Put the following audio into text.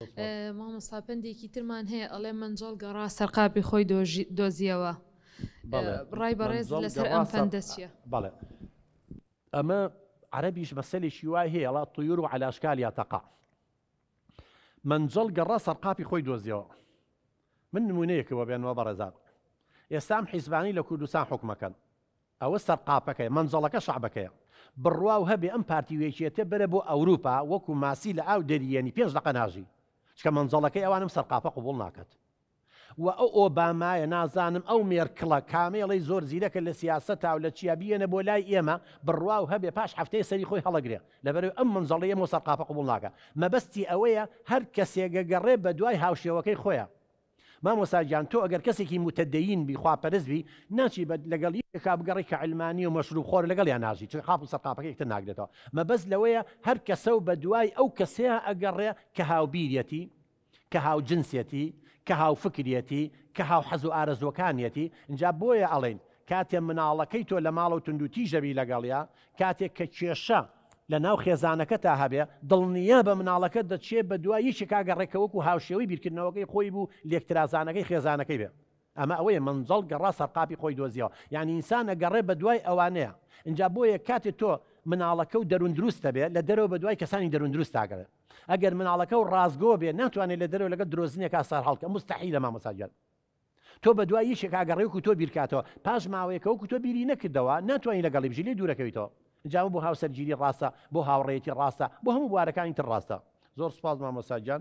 مامۆستا پەندێکی ترمان هەیە ئەڵێ مەنجەڵ گەڕا سەر قاپی خۆی دۆزیەوە ڕای بەڕێز لەسەر ئەم پەندە چیە بەڵێ ئەمە عربیش مەسەلێکی وای هەیە ڵا طیور و عەلاشکال یا تەقا مەنجەڵ گەڕا سەر قاپی خۆی دۆزیەوە من نمونەیەکەوە بێنەوە بەڕێزار ئێستام حیزبانی لە کوردستان حکومەکەن ئەوە سەرقاپەکەیە مەنجەڵەکە شەعبەکەیە بڕواو هەبێ ئەم پارتی و یەکێتیە بەرە بۆ ئەوروپا وەکو ماسی لە ئاو دەریێنی پێنج دەقە ناژی چکە مەنجەڵەکەی ئەوان ئەم سەرقاپە قبوڵ ناکەت و ئەو ئۆبامایە نازانم ئەو مێرکڵە کامەی ئەڵێی زۆر زیرەکە لە سیاسەتا و لە چیا بیێنە بۆ لای ئێمە بڕواو هەبێ پاش هەفتەیە سەری خۆی هەڵەگرێ لەبەرەوەی ئەم مەنجەڵەی ئەمەو سەرقاپە قبوڵ ناکا مەبەستی ئەوەیە هەر کەسێ گەگەڕێ بەدوای هاوشێوەکەی خۆیا مامۆستا گیان تۆ ئەگەر کەسێکی موتەدەین بی خوا پەرست بی ناچی بە لەگەڵ یەکێکا بگەڕی کە علمانی و مەشروب خۆر لەگەڵیان ناژی چون قاپ و سەرقاپەکە یەکتر ناگرێتەوە مەبەست لەوەیە هەر کەسە و بە دوای ئەو کەسەیا ئەگەڕێ کە هاوبیرەتی کە هاوجنسێتی کە هاوفکرێتی کە هاوحەز و ئارەزووەکانیەتی ئینجا بۆیە ئەڵێین کاتێ مناڵەکەی تۆ لە ماڵەو توندوتیژ دەبی لەگەڵیا، کاتێ کە کێشە لە ناو خێزانەکەتا هەبێ، دڵنیابە مناڵەکەت دەچێ بە دوای یەکێکا گەڕێ کە وەکو هاوشێوەی بیرکردنەوەکەی خۆی بوو لێکترازانەکەی خێزانەکەی بێ. ئەمە ئەوەیە مەنجەڵ گەڕا سەرقاپی خۆی دۆزیەوە، یانی ئینسان ئەگەڕێ بە دوای ئەوانەیا. ئینجا بۆیە کاتێ تۆ مناڵەکەو دەروون دروستە بێ، لە دەرەوە بە دوای کەسانی دەروون دروست ئاگەڕێ. ئەگەر مناڵەکەو ڕاستگۆ بێ، ناتوانێ لە دەرەوە لەگەڵ درۆزنێکا سەرهەڵکە، موستەحیلە مامۆستا گیان. تۆ بەدوای یەکێک ئاگەڕێ وەکو تۆ بیرکاتەوە پاش ماوەیەک کە وەکو تۆ بیری نەکردەوە ناتوانی لەگەڵی بژی لێی دوورەکەویتەوە ئەنجامە بۆ هاوسەرگیری ڕاستە بۆ هاوڕێیەتی ڕاستە بۆ هەموو بوارەکانی تر ڕاستە زۆر سوپاس مامۆستا گیان